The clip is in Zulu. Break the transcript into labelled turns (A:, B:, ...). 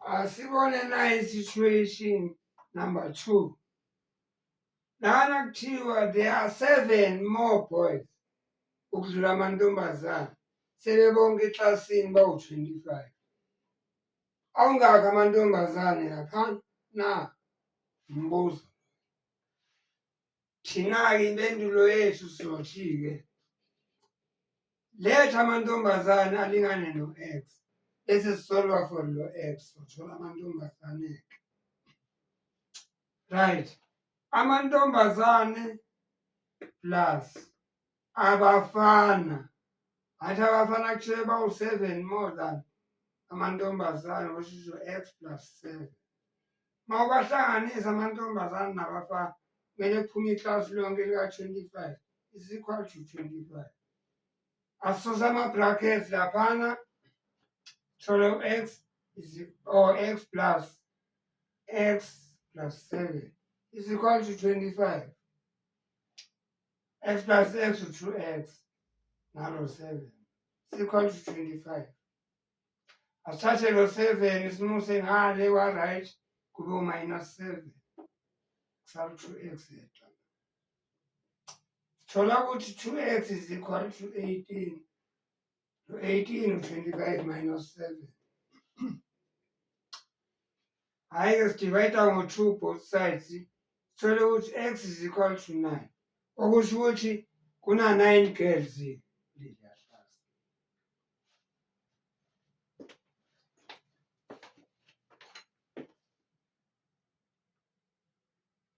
A: asibone naye situation number two lana kuthiwa there are seven more boys ukudlula amantombazana sebebonke eklasini bawu-25 awungakho amantombazane lapha na mbuzo Thina-ke impendulo yethu sizothi-ke letha amantombazane alingane no-x bese sisolwa for lo x sothola amantombazane-ke right amantombazane plus abafana athi abafana kushiye bawu-seven more than amantombazane oshiso x plus seven uma ubahlanganisa amantombazane nabafana kumele kuphume iklasi lonke lika-twenty-five is equal to twenty-five asisose ama-brackets laphana thole u-x or x plus x plus seven is equal to twenty-five x plus x u-two x nalo seven sikhona u-twenty-five asithathe lo seven simuse ngale wa-right kube u-minus seven kusalu-two x yedwa sithola ukuthi two x is equal to eighteen to eighteen u-twenty-five minus seven Hhayi-ke sidivayida ngo-two both sides sithole ukuthi x is equal to nine okusho ukuthi kuna-nine girls